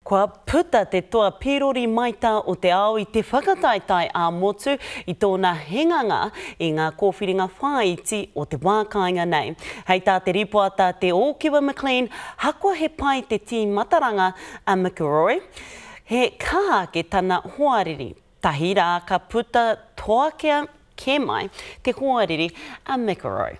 Kua puta te toa pīrori maita o te ao i te whakataetae ā-motu i tōna hinganga i ngā kōwhiringa whāiti o te wā kāinga nei. Hei tā te rīpoata Te Ōkiwa McLean, hakoa he pai te tīmataranga a McEroy, he kaha ake tana hoariri, tahi rā ka puta toakea kē mai te hoariri a McEroy.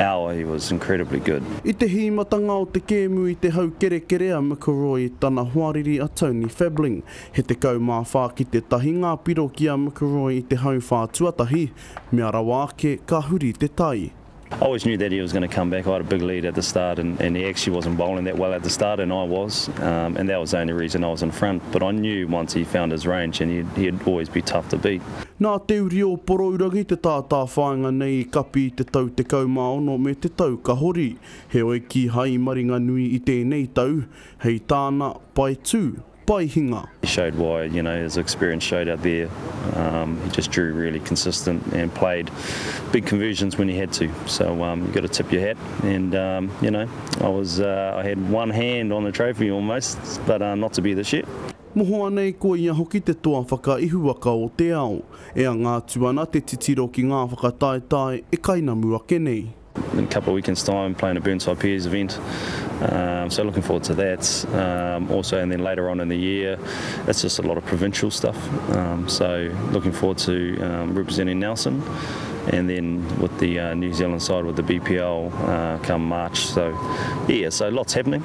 hour he was incredibly good. I te hīmatanga o te kēmu i te hau kerekere a McIlroy i tana hoariri a Tony Fabling. He 14 ki te tahi ngā piro ki a McIlroy i te hau whā tuatahi, mea rawa ake ka huri te tai. I always knew that he was going to come back, I had a big lead at the start and and he actually wasn't bowling that well at the start and I was um and that was the only reason I was in front but I knew once he found his range and he'd he'd always be tough to beat. Nā Te Uri o Porourangi te tātāwhāinga nei i kapi i te tau 16 me te tau ka hori, heoi kīhai i maringanui i tēnei tau, hei tāna, pae tū, pae hinga. He showed why, you know, his experience showed out there. Um, he just drew really consistent and played big conversions when he had to. So um, you got to tip your hat. And um, you know, I was uh, I had one hand on the trophy almost, but uh, not to be this year. Mohoa nei ko ia hoki te toa whakaihuwaka o te ao, e anga atu ana te titiro ki ngā whakataetae e kainamu ake nei. In a couple of weekends time playing a Burnside Pairs event so looking forward to that also and then later on in the year it's just a lot of provincial stuff so looking forward to representing Nelson and then with the New Zealand side with the BPL come March so yeah so lots happening.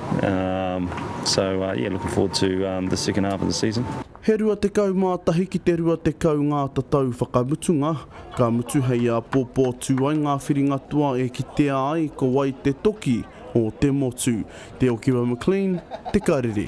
So yeah looking forward to the second half of the season. He 21 ki te 20 ngā tatau whakamutunga, ka mutu hei āpōpō tū ai ngā whiringatua e kitea ai ko wai te toki o te motu. Te Okiwa McLean, Te Karere.